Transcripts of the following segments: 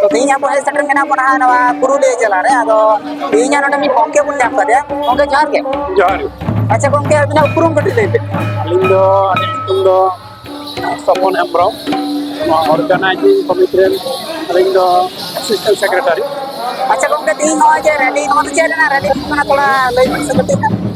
ᱛᱚ ᱛᱮᱦᱮᱧ ᱟᱵᱚ ᱦᱮᱡ ᱥᱮᱴᱮᱨ ᱢᱮᱱᱟᱜ ᱵᱚᱱᱟ ᱱᱚᱣᱟ ᱯᱩᱨᱩᱞᱤᱭᱟᱹ ᱡᱮᱞᱟ ᱨᱮ ᱟᱫᱚ ᱛᱮᱦᱮᱧᱟᱜ ᱱᱚᱰᱮ ᱢᱤᱫ ᱜᱚᱝᱠᱮ ᱵᱚᱱ ᱧᱟᱢ ᱠᱟᱫᱮᱭᱟ ᱜᱚᱝᱠᱮ ᱡᱚᱦᱟᱨ ᱜᱮ ᱡᱚᱦᱟᱨ ᱜᱮ ᱟᱪᱪᱷᱟ ᱜᱚᱝᱠᱮ ᱟᱹᱵᱤᱱᱟᱜ ᱩᱯᱨᱩᱢ ᱠᱟᱹᱴᱤᱡ ᱞᱟᱹᱭ ᱵᱤᱱ ᱟᱹᱞᱤᱧ ᱫᱚ ᱟᱹᱞᱤᱧ ᱧᱩᱛᱩᱢ ᱫᱚ ᱥᱚᱯᱚᱱ ᱦᱮᱢᱵᱨᱚᱢ ᱱᱚᱣᱟ ᱚᱨᱜᱟᱱᱟᱭᱡᱤᱝ ᱠᱚᱢᱤᱴᱤ ᱨᱮᱱ ᱟᱹᱞᱤᱧ ᱫᱚ ᱮᱥᱤᱥᱴᱮᱱᱴ ᱥᱮᱠᱨᱮᱴᱟᱨᱤ ᱟᱪᱪᱷᱟ ᱜᱚᱝᱠᱮ ᱛᱮᱦᱮᱧ ᱱᱚᱜᱼᱚᱭ ᱡᱮ ᱨᱮᱞᱤ ᱱᱚᱣᱟ ᱫᱚ ᱪᱮᱫ ᱨᱮᱱᱟᱜ ᱨᱮᱞᱤ ᱦᱩᱭᱩᱜ ᱠᱟᱱᱟ ᱛᱷᱚᱲᱟ ᱞᱟᱹᱭ ᱵᱤᱱ ᱥᱮ ᱠᱟᱹᱴᱤᱡ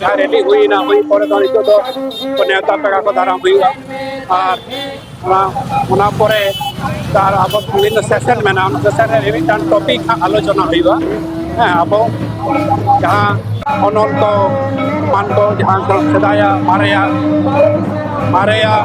ᱡᱟᱦᱟᱸ ᱨᱮᱞᱤ ᱦᱩᱭᱱᱟ ᱦᱩᱭ ᱯᱚᱨᱮ ᱫᱚ ᱱᱤᱛᱚᱜ ᱫᱚ ᱱᱮᱣᱛᱟ ᱯᱮᱲᱟ ᱠᱚ ᱫᱟᱨᱟᱢ ᱦᱩᱭᱩᱜᱼᱟ ᱟᱨ ᱚᱱᱟ ᱚᱱᱟ ᱯᱚᱨᱮ ᱟᱨ ᱟᱵᱚ ᱵᱤᱵᱷᱤᱱᱱᱚ ᱥᱮᱥᱮᱱ ᱢᱮᱱᱟᱜᱼᱟ ᱚᱱᱟ ᱥᱮᱥᱮᱱ ᱨᱮ ᱢᱤᱢᱤᱫᱴᱟᱝ ᱴᱚᱯᱤᱠ ᱦᱟᱸᱜ ᱟᱞᱳᱪᱚᱱᱟ ᱦᱩᱭᱩᱜᱼᱟ ᱦᱮᱸ ᱟᱵᱚ ᱡᱟᱦᱟᱸ ᱚᱱᱚᱞ ᱠᱚ ᱮᱢᱟᱱ ᱠᱚ ᱡᱟᱦᱟᱸ ᱠᱚ ᱥᱮᱫᱟᱭᱟᱜ ᱢᱟᱨᱮᱭᱟᱜ ᱢᱟᱨᱮᱭᱟᱜ